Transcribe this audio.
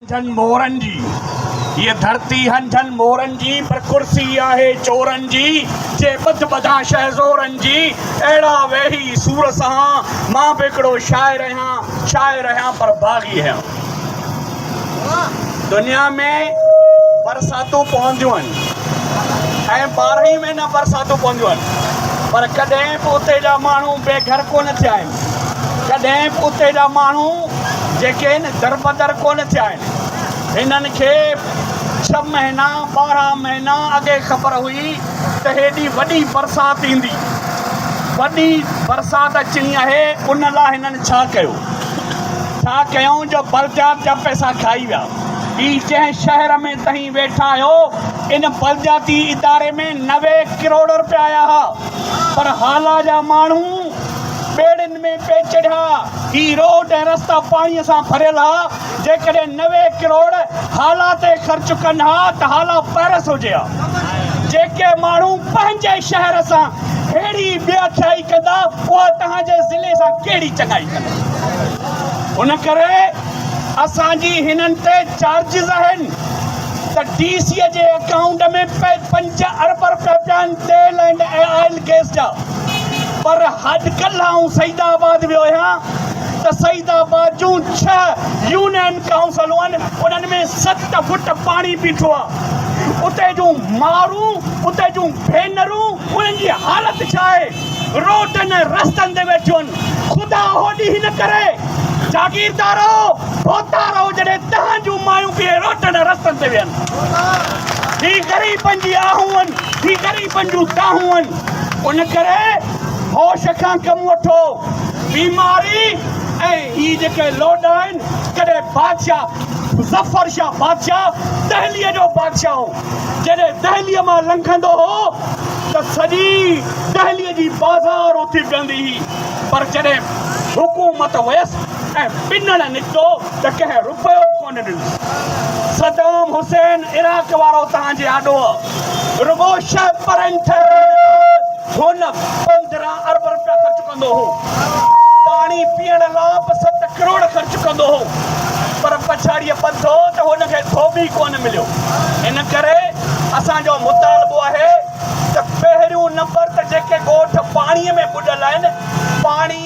جھن مورن جي هيء ڌرتي هن جھن مورن جي پر ڪرسي آهي چورن جي جي ٻڌ ٻڌان شهزورن جي اهڙا ويهي سور سهان مان به هڪڙو شاعر اهيان شاعر اهيان پر باغي اهيان دنيا ۾ برساتون پونديون آهن ۽ ٻارهن ئي مهينا برساتون پونديون آهن پر ڪڏهن به اتي جا ماڻهو بي گھر ڪونه ٿيا آهن ڪڏهن به اتي جا ماڻهو جيڪي هن دربدر ڪونه ٿيا آهن. هنن کي ڇهه مهينا، ٻارهن مهينا اڳي خبر هئي ته هيڏي وڏي برسات ايندي. وڏي برسات اچڻي آهي ان لاء هنن ڇا ڪيو؟ ڇا ڪيائون جو بلديات جا پئسا کائي ويا. هي جنهن شهر ۾ تهين ويٺا آهيو ان بلدياتي اداري ۾ نوي ڪروڙ رپيا آيا ها پر هالا جا ماڻهو، ٻيڙين ۾ پئي چڙهيا. هي روڊ ۽ رستا پاڻيء سان ڀريل ها. جيڪڏهن نوي ڪروڙ هالا تي خرچ ڪن ها ته هالا پئرس هجي ها. جيڪي ماڻهو پنهنجي شهر سان ههڙي بي اکيائي ڪندا، اها توهان جي ضلعي سان ڪهڙي چڱائي ڪندا. ان ڪري اسان جي هنن تي چارجز آهن ته ڊي سيء جي اڪائونٽ ۾ پئي پنج ارب رپيا پيا آهن. تيل اينڊ آئل ڪيس جا پر اڄ ڪلهه آئون سعيد آباد ويو آهيان ته سعيد آباد جون ڇهه يونين ڪائونسلون انهن ۾ ست فوٽ پاڻي بيٺو آهي اتي جون مارون اتي جون ڀينرون انهن جي حالت ڇا آهي روڊن ۽ رستن تي ويٺيون آهن خدا اهو ڏينهن نه ڪري جاگيردارو ڀوتا رهو جڏهن تهان جون مايون به روڊن ۽ رستن تي ويهن هي غريبن جي آهون هي غريب غريبن جون دانهون آهن ان ڪري هوش کان ڪم وٺو بيماري ۽ هي جيڪي لوڏ آهن ڪڏهن بادشاهه مظفر شاهه بادشاهه دهلي جو بادشاهه هو جڏهن دهلي مان لنگهندو هو ته سڄي دهلي جي بازار اٿي بيهندي هئي پر جڏهن حڪومت ويس ۽ پنڻ نڪتو ته ڪنهن رپيو به ڪونه ڏنو. صدام حسين عراق وارو توهان جي آڏو رڳو شهه پرين ٺهرائڻ تي هن پندرهن ارب رپيا خرچ ڪندو هو. پاڻي پيئڻ لا به ست ڪروڙ خرچ ڪندو هو. پر پڇاڙيء ٻڌو ته هن کي ڌوٻي ڪونه مليو. ان ڪري اسان جو مطالبو آهي ته پهريون نمبر ته جيڪي ڳوٺ پاڻيء ۾ ٻڏل آهن، پاڻي.